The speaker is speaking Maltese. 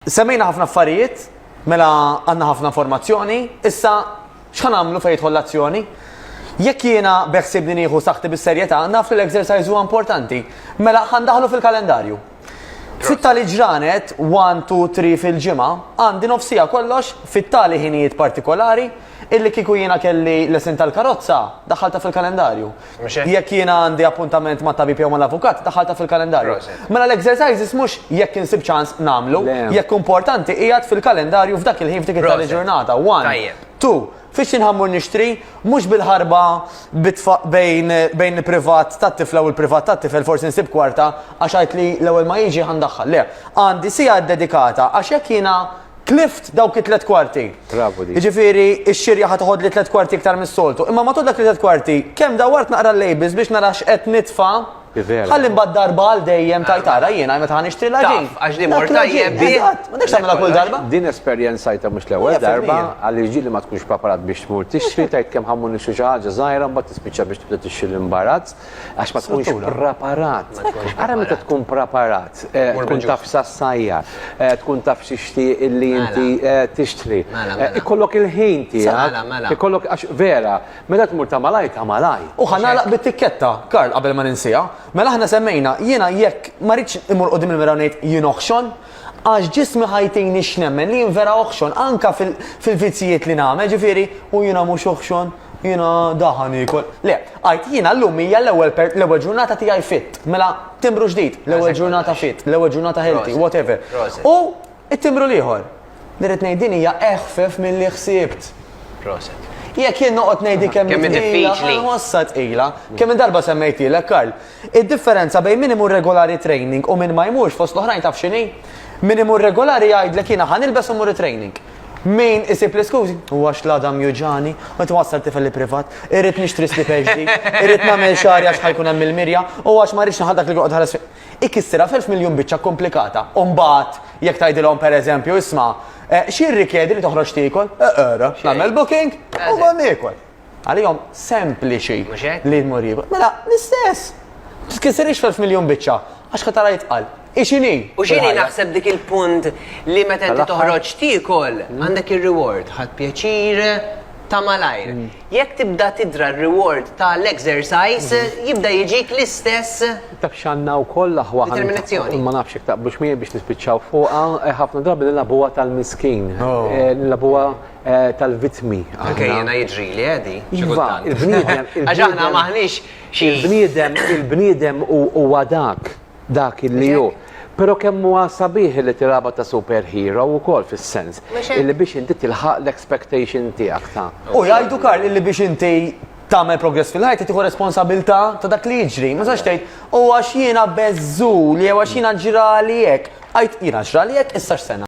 Semmejna ħafna affarijiet, mela għandna ħafna informazzjoni, issa x'ħan għamlu fejn jidħol l-azzjoni? Jekk jiena beħsibni nieħu saħti bis-serjetà, naf li l-exercise huwa importanti. Mela ħan daħlu fil-kalendarju. Sitta li ġranet, 1, 2, 3 fil-ġimgħa, għandi nofsija kollox fit-tali ħinijiet partikolari illi kieku jiena kelli lesin tal-karozza daħalta fil-kalendarju. Jekk jiena għandi appuntament mat-tabib jew mal-avukat, daħħaltha fil-kalendarju. Mela l-exercises mhux jekk insib ċans nagħmlu, jekk hu importanti qiegħed fil-kalendarju f'dak il-ħin f'dik it-tali-ġurnata. One. Two. Fiex jien ħa mmur nixtri? Mhux bil-ħarba bejn bejn il-privat tat-tifla u l-privat tat-tifel forsi nsib kwarta għax għidt li l-ewwel ma jiġi ħa ndaħħal. Le. Għandi siegħa ddedikata għax jekk jiena tlift dawk it-tliet kwarti. Travu di. Jiġifieri x-xirja ħa toħodli tliet kwarti iktar mis-soltu. Imma matul dak it-tliet kwarti, kemm dawart naqra l-labels biex nara x'qed nitfa' Ħalli mbagħad darba għal dejjem tajt ara jiena meta ħa nixtri l-ħaġin. Għax li mor tajjeb bih. Ma dekx tagħmilha kull darba. Din esperjenzajta mhux l-ewwel darba għaliex ġieli ma tkunx preparat biex tmur tixtri tgħid kemm ħa mmur nixtri xi ħaġa żgħira mbagħad tispiċċa biex tibda tixtri l-imbarazz. Għax ma tkunx preparat. Ara meta tkun preparat, eh, tkun taf sassajja, eh, tkun taf xixti illi mela. inti eh, tixtri. Mela, mela. Ikollok il-ħin tiegħek. Ikollok għax vera, meta tmur ta' malaj ta' malaj. U ħanalaq bit-tikketta, Karl, qabel ma ninsija. Mela aħna semmejna, jiena jekk ma rridx imur qudiem il-mira ngħid jien oħxon, Għax ġismi ħa jtini x'nemmen li jien vera oħxon, anka fil-vizzijiet li nagħmel, ġifieri, u jiena mhux oħxon, jiena daħan niekol. Le, għidt, jiena llum hija l-ewwel ġurnata tiegħi fit, mela timbru ġdid, l-ewwel ġurnata fit, l-ewwel ġurnata healthy, whatever. U t-timbru l-ieħor. Li rrid ngħid din hija eħfef milli ħsibt. Jekk jien noqgħod ngħidlek kemm hi tqila, inħossha tqila. Kemm-il darba semmejtilek, Karl? Id-differenza bejn min imur regulari training u min ma jmurx fost l-oħrajn taf x'inhi? Min imur regulari jgħidlek jiena ħa nilbes u mmur it-training. Min isib l-iskużi, u għax l-għadam juġagħni, qed iwassal tifel iprivat, irrid nixtri slipper ġdid, irrid nagħmel xagħri għax ħa jkun hemm il-mirja, u għax ma rridx nilħaq dak li joqgħod iħares fija. Ikissirha f'elf miljun biċċa kkumplikata. U mbagħad jekk tgħidilhom pereżempju, isma', x'jirrikjedi li toħroġ tiekol? Eqra, nagħmel booking u mmur niekol. Għalihom sempliċi li jmur jiekol. Mela, l-istess! Titkissirix f'elf miljun biċċa, għax ħadd ara jitqal. Ixini! U xini naħseb dik il-punt li meta inti toħroġ tiekol, mm. għandek ir-reward, ħadd pjaċir, ta' malajr. Mm. Jekk tibda tidra r-reward ta' l-exercise, mm-hmm. jibda jiġik l-istess. Taf xanna u koll aħwa. Determinazzjoni. Ma nafx ta' biex mi biex nispiċċaw fuqa, eh, ħafna drabi l-labuwa tal-miskin. Oh. Eh, l-labuwa tal-vittmi. Anke jiena jiġrili għedi. Eh, iva, il-bniedem. Għaxaħna maħnix xi. Il-bniedem, il-bniedem u għadak dak il-li ju. Pero kemm huwa sabiħ li tiraba ta' superhero u kol fis-sens. Illi biex inti tilħaq l-expectation tiegħek ta'. U jgħidu Karl illi biex inti tagħmel progress fil-ħajt tieħu responsabilità ta' dak li jiġri. Ma sax tgħid, u għax jiena beżżu li għax jiena ġrali hekk. Għajt jiena ġrali hekk issa x'sena.